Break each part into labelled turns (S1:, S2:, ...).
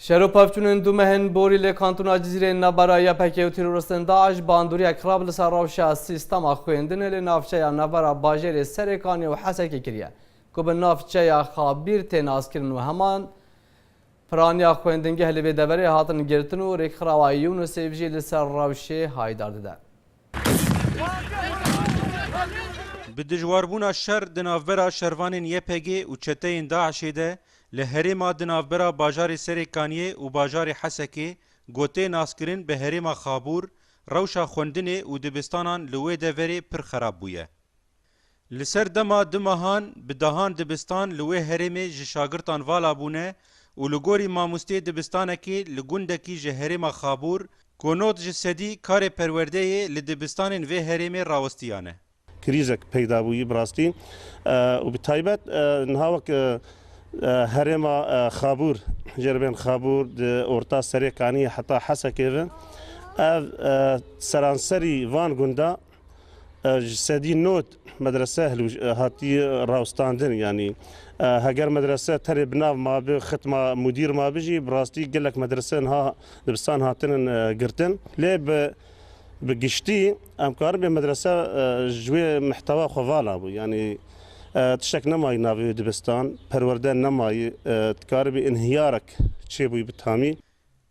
S1: Şero pevçûnên du mehên borî lê kantona Cizîrê navbera YPG û teroristên DAIŞ bandoriyek xirab li ser rewşa sîstema xwendinê lê navçeya navbera bajêrê Serêkanê û Hesekê kiriye ku bi navçeya Xabîr tê naskirin û heman piraniya xwendingeh li vê deverê hatin girtin û rêkxirawa UNICEF jî li ser rewşê haydar dide. Bi dijwarbûna şer di navbera şervanên YPG'ê û çeteyên DAIŞ'ê de li herêma di navbera bajarê Serêkaniyê û bajarê Hesekê gotê naskirin bi herêma Xabûr, rewşa xwendinê û dibistanan li wê deverê pir xerab bûye. Li ser dema du mehan bi dehan dibistan li wê herêmê ji şagirtan vala bûne û li gorî mamosteyê dibistanekî li gundekî ji herêma Xabûr ku nod ji sedî karê perwerdeyê li dibistanên vê herêmê rawestiyane. Krîzek peyda bûyî bi rastî û bi taybet niha wek herêma Xabûr jê li bên Xabûr di orta serê kaniyê heta Hesekê ve ev seranserî van gunda Ji sedî not medrese hatî rawestandin yanî heger medrese tenê bi nav mabi xitma mudîr mabi jî bi rastî gelek medrese niha dibistan hatinin girtin lê bi bi giştî em karin bê medrese ji wê mihtewa xwe vala bû yanî tiştek nemayî navê wê dibistan perwerde nemayî dikaribî înhiyarek çêbûyî bi tamî.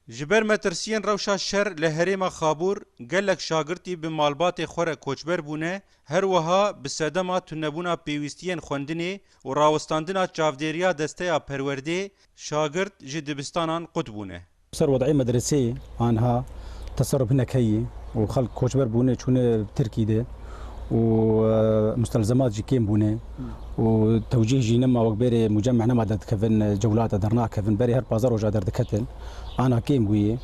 S1: Ji ber metirsiyên rewşa şer li herêma Xabûr gelek şagirtî bi malbatê xwe re koçber bûne, her wiha bi sedema tunebûna pêwîstiyên xwendinê û rawestandina çavdêriya desteya perwerdê şagirt ji dibistanan qut bûne. Li ser wedî medreseyê aniha teserûf hinek heye û xelk koçber bûne çûne tirkî de û mustelzemat jî kêm bûne. û tewcîh jî nema wek bêrê mucemeh nema derdikevin cewlata dernakevin berê her pazdeh roja derdiketin ana kêm bûye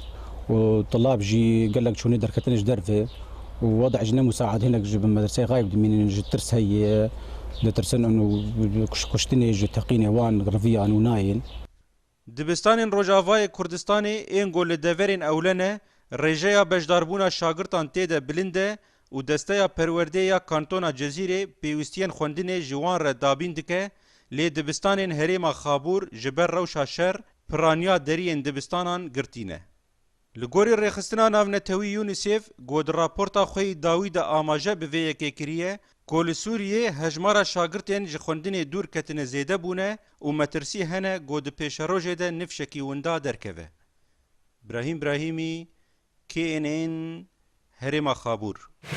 S1: û tulab jî gelek çûnê derketine ji derve û wede jî ne musaad hinek ji bin medreseyê xayb dimînin ji tirs heye ditirsin û kuştinê ji teqînê wan riviyan û nayên. Dibistanên Rojavayê Kurdistanê ên ku li deverên ewle ne, rêjeya beşdarbûna şagirtan tê de bilind e û desteya perwerdeyê ya Kantona Cezîrê pêwîstiyên xwendinê ji wan re dabîn dike, lê dibistanên herêma Xabûr ji ber rewşa şer piraniya deriyên dibistanan girtî ne. Li gorî Rêxistina Navnetewî UNICEF ku di raporta xwe yî dawî de amaje bi vê yekê kiriye ku li Sûriyê hejmara şagirtên ji xwendinê dûr ketine zêde bûne û metirsî hene ku di pêşerojê de nifşekî winda derkeve. Brahîm Brahîmî, KNN, Herêma Xabûr.